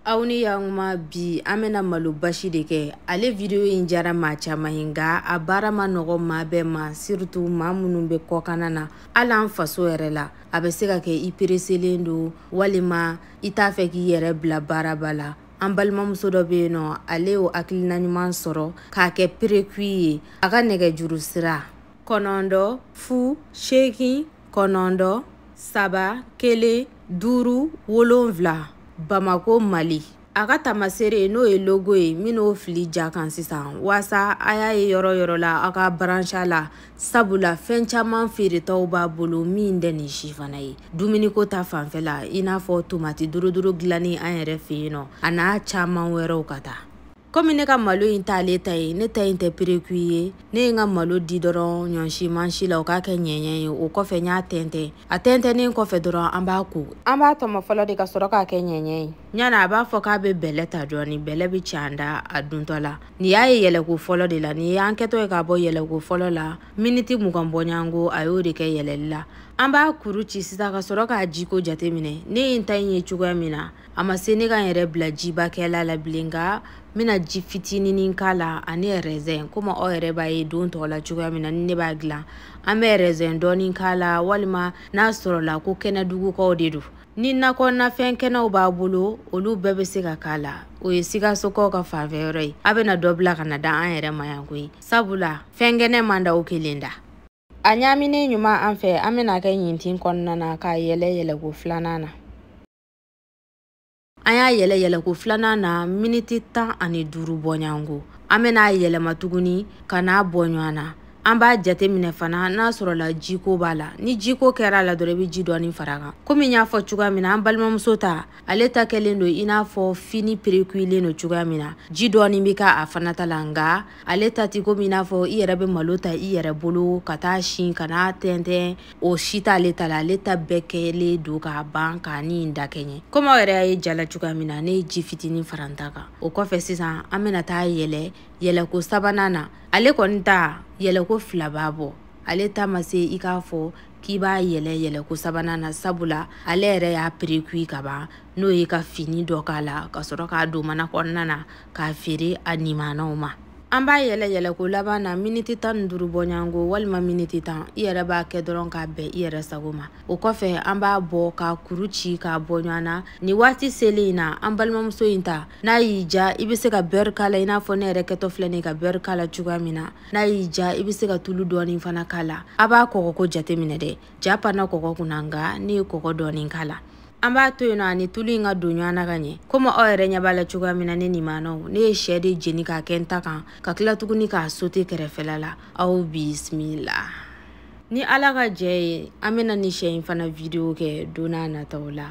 aw ni yankuma bi an bɛna malo basi de kɛ ale video in jara maa caman ye nka a baara ma nɔgɔ maa bɛɛ ma siritu maa minnu bɛ kɔkana na hali an faso yɛrɛ la a bɛ se ka kɛ i pereselen don walima i t'a fɛ k'i yɛrɛ bila baaraba la an balimamuso dɔ bɛ yen nɔ ale y'o hakilina ɲuman sɔrɔ k'a kɛ perekui ye a ka nɛgɛjuru sira kɔnɔntɔn fu seegin kɔnɔntɔn saba kelen duuru wolonfila bamako mali a ka tamasere n'o ye logo ye min'o filɛ ja kan sisan waasa a y'a ye yɔrɔ yɔrɔ la aw ka baransa la sabula fɛn caman feeretaw b'a bolo min tɛ nin si fana ye dumuniko ta fanfɛ la i n'a fɔ tomati duruduru dilannen an yɛrɛ fɛ yen nɔ a n'a caman wɛrɛw ka taa komi ne ka malo in t'ale ta ye ne ta in tɛ perekui ye ne ye n ka malo di dɔrɔn ɲɔsi mansin la o k'a kɛ ɲɛɲɛ ye o kɔfɛ n y'a tɛntɛn a tɛntɛnnen kɔfɛ dɔrɔn an b'a ko an b'a tɔmɔ fɔlɔ de ka sɔrɔ k'a kɛ ɲɛɲɛ ye ɲana a b'a fɔ k'a bɛ bɛlɛ ta dɔɔni bɛlɛ bɛ ci an da a duntɔ la nin y'a ye yɛlɛko fɔlɔ de la nin y'an kɛtɔ ye k'a bɔ yɛlɛko fɔlɔ la miniti mugan bɔɲanko a y'o de kɛ yɛlɛli la an b'a kuru ci sisan ka sɔrɔ k'a jiko jateminɛ ne ye n ta in ye cogoya min na a ma se ne ka n yɛrɛ bila jibakɛla la bilen nka n bɛna ji fitininin k'a la ani rɛzɛn komi aw yɛrɛ b'a ye don tɔw la cogoya min na ni ne b'a dilan an bɛ rɛzɛn dɔɔni k'a la walima n'a sɔrɔla ko kɛnɛdugukaw de don ni nakɔ nafɛn kɛnɛw b'a bolo olu bɛɛ bɛ se ka k'a la o ye sikasokaw ka fanfɛ yɔrɔ ye a bɛna dɔ bila ka n'a di an yɛrɛ ma yan koyi sabula fɛn kɛnɛ man d'aw kelen da a ɲaaminen ɲuman an fɛ an bɛna kɛ ɲintin kɔnɔna na k'a yɛlɛ yɛlɛko filanan na an y'a yɛlɛ yɛlɛko filanan na miniti tan ani duuru bɔɲanko an bɛna a yɛlɛma tuguni ka n'a bɔ ɲɔgɔn na an b'a jate minɛ fana n'a sɔrɔla jiko b'a la ni jiko kɛra a la dɔrɔn i bɛ ji dɔɔni fara kan komi n y'a fɔ cogoya min na an balimamuso ta ale ta kɛlen don i n'a fɔ fini perekuilen don cogoya min na ji dɔɔni bɛ kɛ a fana ta la nka ale ta tɛ komi i n'a fɔ i yɛrɛ bɛ malo ta i yɛrɛ bolo ka t'a si ka n'a tɛntɛn o si t'ale ta la ale ta bɛɛ kɛlen don k'a ban k'a ni in da kɛɲɛ komi aw yɛrɛ y'a ye ja la cogoya min na ne ye ji fitinin fara n ta kan o kɔfɛ sisan an bɛna taa yɛlɛ yɛlɛko sabanan na ale kɔni ta yɛlɛko fila b'a bɔ ale ta ma se i k'a fɔ k'i b'a yɛlɛ yɛlɛko sabanan na sabula ale yɛrɛ y'a perekui ka ban n'o ye ka fini dɔ k'a la ka sɔrɔ k'a don mana kɔnɔna na k'a feere a nimanaw ma an b'a yɛlɛ yɛlɛko laban na miniti tan ni duuru bɔɲanko walima miniti tan i yɛrɛ b'a kɛ dɔrɔn k'a bɛn i yɛrɛ sago ma o kɔfɛ an b'a bɔ k'a kuru ci k'a bɔ ɲɔgɔn na nin waati selen in na an balimamuso in ta n'a y'i ja i bɛ se ka bɛri k'a la i n'a fɔ ne yɛrɛ kɛtɔ filɛ nin ka bɛri k'a la cogoya min na n'a y'i ja i bɛ se ka tulu dɔɔni fana k'a la a b'a kɔgɔko jateminɛ dɛ ja panna kɔgɔ kunna nka ne ye kɔgɔ dɔɔnin k'a la an b'a to yen nɔ ani tulu in ka don ɲɔgɔn na ka ɲɛ komi aw yɛrɛ ɲɛ b'a la cogoya min na ne nimanaw ne ye syɛ de jeni k'a kɛ n ta kan ka tila tuguni k'a sote kɛrɛfɛla la aw bisimila ni ala ka jɛn ye an bɛna nin syɛ in fana video kɛ don nataw la